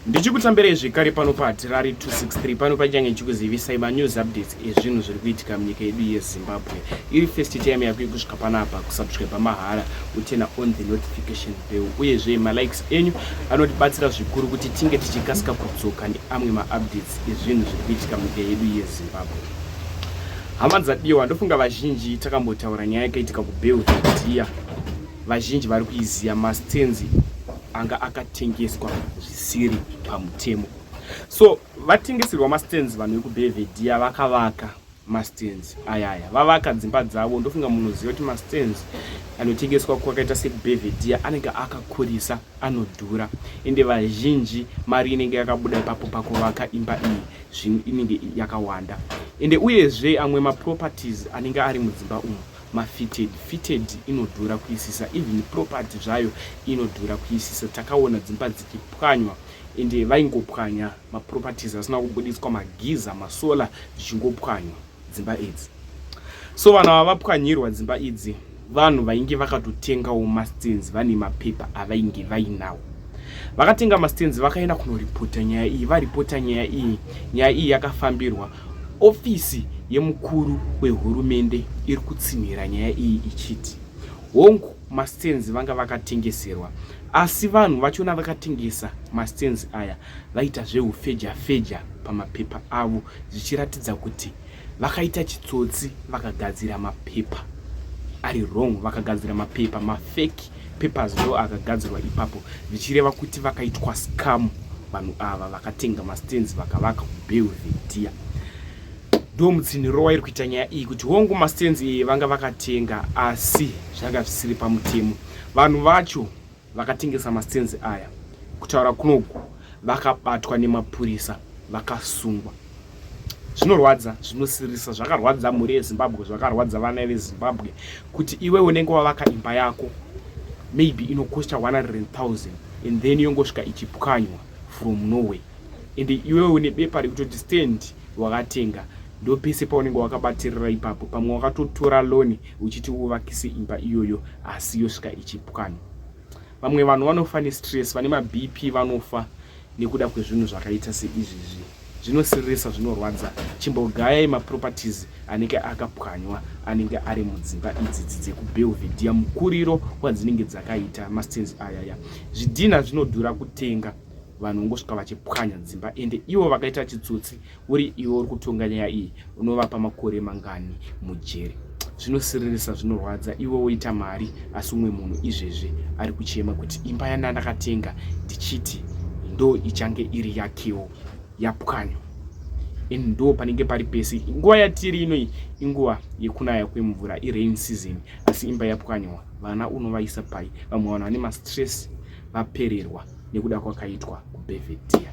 ndichikutambirai zvekare pano pahatirari 263 pano paichange ndichikuzivisai manews updates ezvinhu zviri kuitika munyika yedu yezimbabwe iri first time yako yekusvika panapa kusubscribe mahara utena on the notification bell uyezve malikes enyu anotibatsira zvikuru kuti tinge tichikasika kudzoka neamwe maupdates ezvinhu zviri kuitika munyika yedu yezimbabwe hama dzadiwa ndofunga vazhinji takambotaura nyaya yakaitika kubelvedea vazhinji vari kuiziva mastenzi anga akatengeswa zvisiri pamutemo so vatengeserwa mastands vanhu vekubevediya vakavaka mastands ayaya vavaka dzimba dzavo ndofunga munoziva kuti mastands anotengeswa kwakaita sekubevediya anenge akakurisa anodhura ende vazhinji mari inenge yakabuda ipapo pakuvaka imba iyi zvinhu inenge yakawanda ende uyezve amwe maproperties anenge ari mudzimba umu mafitted fitted inodhura kuisisa even property zvayo inodhura kuisisa takaona dzimba dzichipwanywa ende vaingopwanya maproperties asina kubuditswa magiza masolar zvichingopwanywa dzimba idzi so vanhu ava vapwanyirwa dzimba idzi vanhu vainge vakatotengawo mastens vane mapepa avainge vainawo vakatenga mastens vakaenda kunoripota nyaya iyi varipota nyaya iyi nyaya iyi yakafambirwa Ofisi yemukuru wehurumende iri kutsinhira nyaya iyi ichiti hongu mastenzi vanga vakatengeserwa asi vanhu vachona vakatengesa mastenzi aya vaita zveufeja feja pamapepa avo zvichiratidza kuti vakaita chitsotsi vakagadzira mapepa ari wrong vakagadzira mapepa mafeki mapapers ndo akagadzirwa ipapo zvichireva kuti vakaitwa scam vanhu ava vakatenga mastands vakavaka kubelvedia ndo mutsinhiro wairi kuita nyaya iyi kuti hongu mastands iyi vanga vakatenga asi zvanga zvisiri pamutemo vanhu vacho vakatengesa mastands aya kutaura kunoku vakabatwa nemapurisa vakasungwa zvinorwadza zvinosirisa zvakarwadza mhuri yezimbabwe zvakarwadza vana vezimbabwe kuti iwe unenge wavaka imba yako maybe inokosta 100000 and then yongosvika ichipwanywa from norway and iwe une bepa rekutoti stand wakatenga ndo pese paunenge wakabatirira ipapo pamwe wakatotora loni uchiti uvakise imba iyoyo asi yosvika ichipwanywa vamwe vanhu vanofa nestress vane mabp vanofa nekuda kwezvinhu zvakaita seizvizvi zvinosiririsa zvinorwadza chimbogayai maproperties anenge akapwanywa anenge ari mudzimba idzidzi dzekubelvedea mukuriro wadzinenge dzakaita mastens ayaya zvidhina zvinodhura kutenga vanhu vongosvika vachipwanya dzimba ende ivo vakaita chitsotsi uri iwe uri kutonga nyaya iyi unovapa makore mangani mujeri zvinosiririsa zvinorwadza iwe woita mari asi umwe munhu izvezvi ari kuchema kuti imba yandandakatenga ndichiti ndo ichange iri yakewo yapwanywa and ndo panenge pari pese nguva yatiri inoi inguva yekunaya kwemvura irain season asi imba yapwanywa vana unovaisa pai vamwe vanhu vane mastress vapererwa nekuda kwakaitwa kubevedia